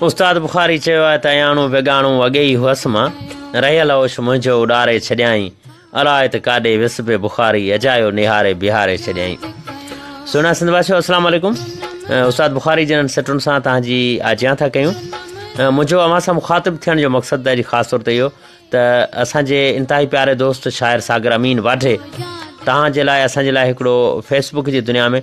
استاد بخاري چيو آهي ته اياڻو بيگاڻو اڳي ئي هئس مان، رهيل هوش منهنجو اڏاري ڇڏيائين، الائي ته ڪاڏي ويس پئي بخاري اجايو نهاري بيهاري ڇڏيائين. سهڻا سنڌ واسيو السلام عليڪم استاد بخاري جنن سٽن سان تان جي آجيان ٿا ڪيون منهنجو اوهان سان مخاطب ٿيڻ جو مقصد ته جي خاص طور ته اهو ته اسان جي انتهائي پياري دوست شاعر ساگر امين واڍي تان جي لاء اسان جي لاء هڪڙو فيسبوڪ جي دنيا ۾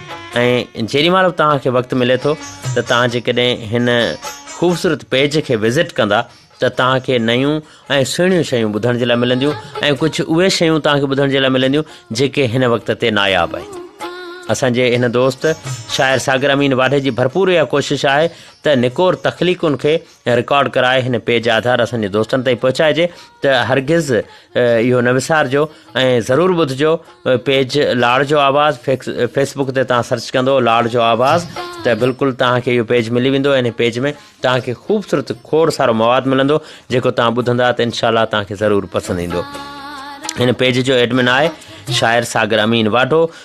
۽ جيڏي مهل به توهان کي وقت ملي ٿو ته توهان جيڪڏهن هن خوبصورت پيج کي وزٽ ڪندا ته توهان کي نيون ۽ سهڻيون شيون ٻڌڻ جي لاء ملنديون ۽ ڪجهه اهي شيون توهان کي ٻڌڻ جي لاء ملنديون جيڪي هن وقت تي ناياب آهن اسان جي هن دوست شاعر ساگر امين واڍي جي ڀرپور اها ڪوشش آهي ته نڪور تخليقن کي رڪارڊ ڪرائي هن پيج آڌار اسان جي دوستن تائين پهچائجي ته هرگز اهو نه وسارجو ۽ ضرور ٻڌجو پيج لاڙ جو آواز فيس بڪ تي تان سرچ ڪندو لاڙ جو آواز ته بلڪل تان کي اهو پيج ملي ويندو ان پيج ۾ تان کي خوبصورت کوڙ سارو مواد ملندو جيڪو تان ٻڌندا ته انشاءالله تان کي ضرور پسند ايندو ان پيج جو ايڊمن آهي شاعر Sagar Amin Wadho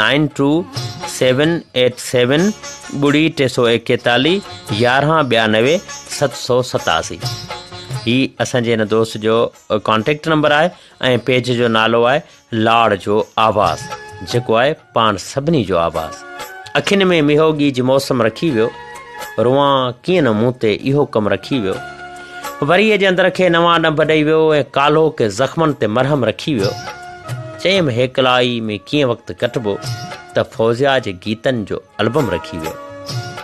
nine two seven eight seven ٻڙي ٽي سو ايڪيتاليھ يارهان ٻيانوي ست سو ستاسي هي اسان جي هن دوست جو ڪانٽيڪٽ نمبر آهي ۽ پيج جو نالو آهي لاڙ جو آواز جيڪو آهي پاڻ سڀني جو آواز اکين ۾ ميهوگي جي موسم رکي ويو روان ڪيئن نه مون تي اهو ڪم رکي ويو وري جي اندر کي نوان ڏنڀ ڏئي ويو ۽ ڪالهو ڪي زخمن تي مرهم رکي ويو چيم هيڪلائي ۾ ڪيئن وقت ڪٽبو ته فوزيا جي گيتن جو البم رکي ويو.